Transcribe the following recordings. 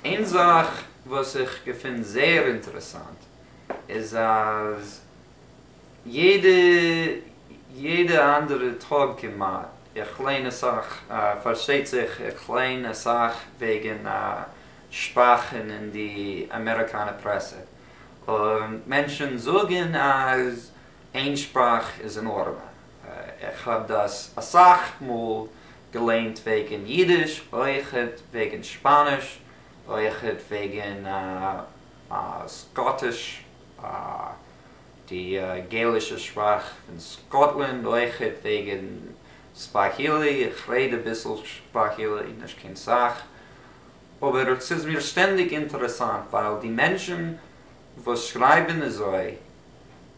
איין זאך וואס איך געפין זייער אינטערעסאנט איז אז יעדע יעדע אנדערע טאג כמעט איך ליין אסאך פארשטייט זיך איך ליין אסאך וועגן א שפאך אין אין די אמעריקאנע פרעסע און מענטשן זאגן אז איין שפאך איז אין ארעמע איך האב דאס אסאך מאל געליינט וועגן אידיש, אויכעט וועגן שפאניש, אויכעט וועגן סקאטיש, די געלישע שפראך פון סקאטלענד, אויכעט וועגן סוואהילי, איך רעד אביסל סוואהילי, נישט קיין סאך, אבער ס'איז מיר שטענדיג אינטערעסאנט ווייל די מענטשן וואס שרייבן אזוי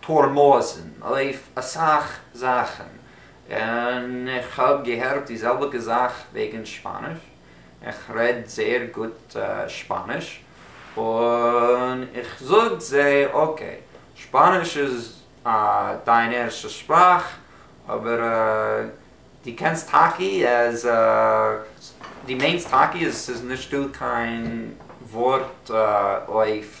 פארמאסן אויף אסאך זאכן, און איך האב געהערט די זעלביגע זאך וועגן שפאניש, איך רעד זייער גוט שפאניש, און איך זאג זיי אקעי, שפאניש איז דיין ערשטע שפראך, אבער דו קענסט טאקי אז דו מיינסט טאקי אז ס'איז נישטא קיין ווארט אויף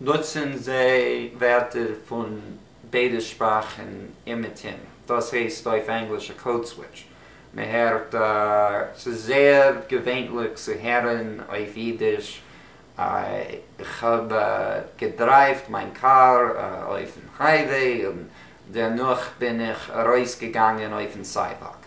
נוצן זיי ווערטער פון ביידע שפראכן אומעטום, דאס הייסט אויף ענגליש א קאוד סוויטש. מען הערט, ס'איז זייער געווענליך צו הערן אויף אידיש, איך האב געדרייווט מיין קאר אויפן הייוועי און דערנאך בין איך ארויסגעגאנגען אויפן סיידוואק.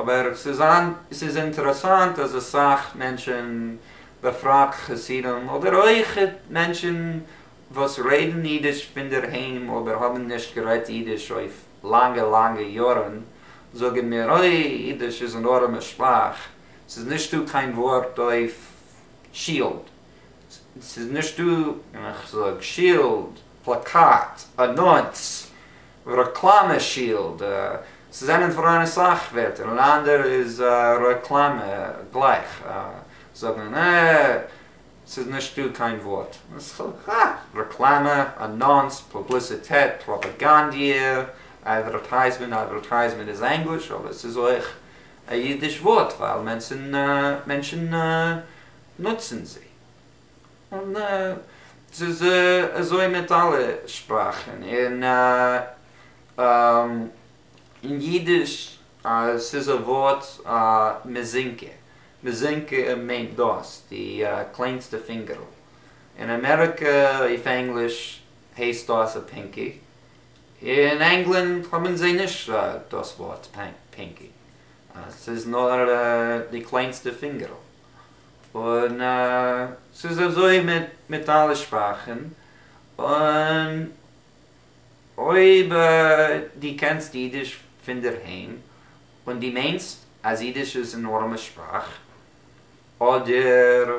אבער ס'איז אינטערעסאנט אז אסאך מענטשען, בפרט חסידים, אדער אויך מענטשען וואס רעדען אידיש פונדערהיים אבער האבען נישט גערעדט אידיש אויף לאנגע לאנגע יארען, זאגען מיר אוי אידיש איז אן ארעמע שפראך, ס'איז נישטא קיין ווארט אויף שילד. ס'איז נישט דא און איך זאג שילד, פלאקאט, אנאנס, רעקלאמע שילד, ס'זענען פאראן אסאך ווערטער און אנדערע איז רעקלאמע גלייך זאגן און ס'איז נישט דא קיין ווארט רעקלאמע, אנאנס, פובליסיטעט, פראפאגאנדיע, אדווערטייזמענט, אדווערטייזמענט איז ענגליש אבער ס'איז אויך א אידיש ווארט ווייל מענטשן נוצן זי. און ס'איז אזוי מיט אלע שפראכן. און אין אידיש ס'איז א ווארט מזינקע. מזינקע מיינט דאס, די קלענסטע פינגערל. אין אמעריקע אויף ענגליש הייסט דאס א פינקי. אין ענגלאנד האבן זיי נישט דאס ווארט פינקי. ס'איז נאר די קלענסטע פינגערל. און ס'איז אזוי מיט אלע שפראכן, און אויב דו קענסט אידיש פונדערהיים און דו מיינסט אז אידיש איז אן ארעמע שפראך, אדער.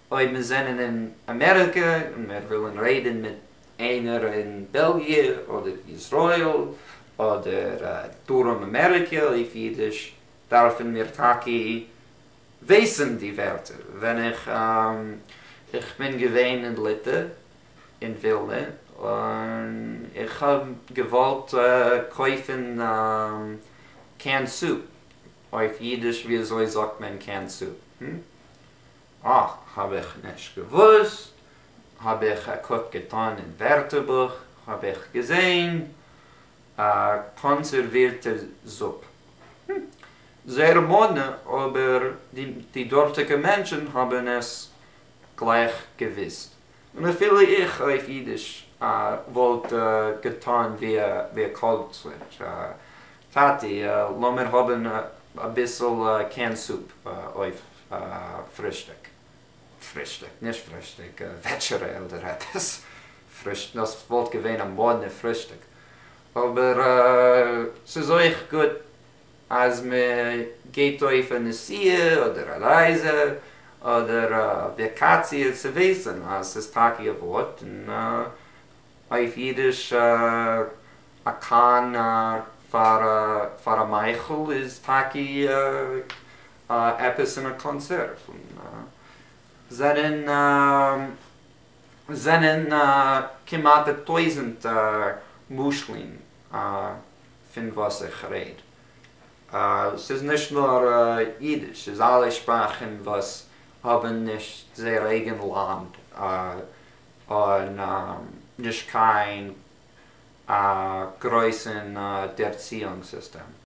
אויב מיר זענען אין אמעריקע און מיר ווילן רעדן מיט איינער אין בעלגיע אדער איזראעיל אדער דרום אמעריקע אויף אידיש דארפן מיר טאקע וויסן די ווערטער. ווען איך איך בין געווען אין ליטע אין ווילנע און איך האב געוואלט קויפן א קען סופ אויף אידיש וויאזוי זאגט מען קען סופ? אה, האב איך נישט געוואוסט, האב איך א קוק געטאן אין ווערטערבוך, האב איך געזעהן א קאנסערווירטע זופ. הום. זייער מאדנע, אבער די דארטיגע מענטשן האבן עס גלייך געוואוסט. און אפילו איך אויף אידיש וואלט געטאן ווי א קאוד סוויטש, טאטי לאמיר האבן אביסל קען סופ אויף פרישטיק, פרישטיק, נישט פרישטיק, וועטשערע אדער עפעס, פרישט, דאס וואלט געווען א מאדנע פרישטיק, אבער ס'איז אויך גוט אז מ'געבט אויף א נסיעה אדער א רייזע אדער א וואקאציע צו וויסן אז ס'איז טאקע א ווארט און אויף אידיש א קאן פאר א מייכל איז טאקע אה, עפעס אין א קאנצערט פון זענען זענען כמעט א טויזענט משלים פון וואס איך רעד. ס'איז נישט נאר אידיש, ס'איז אלע שפראכן וואס האבן נישט זייער אייגן לאנד און נישט קיין גרויסן ערציאונג סיסטעם.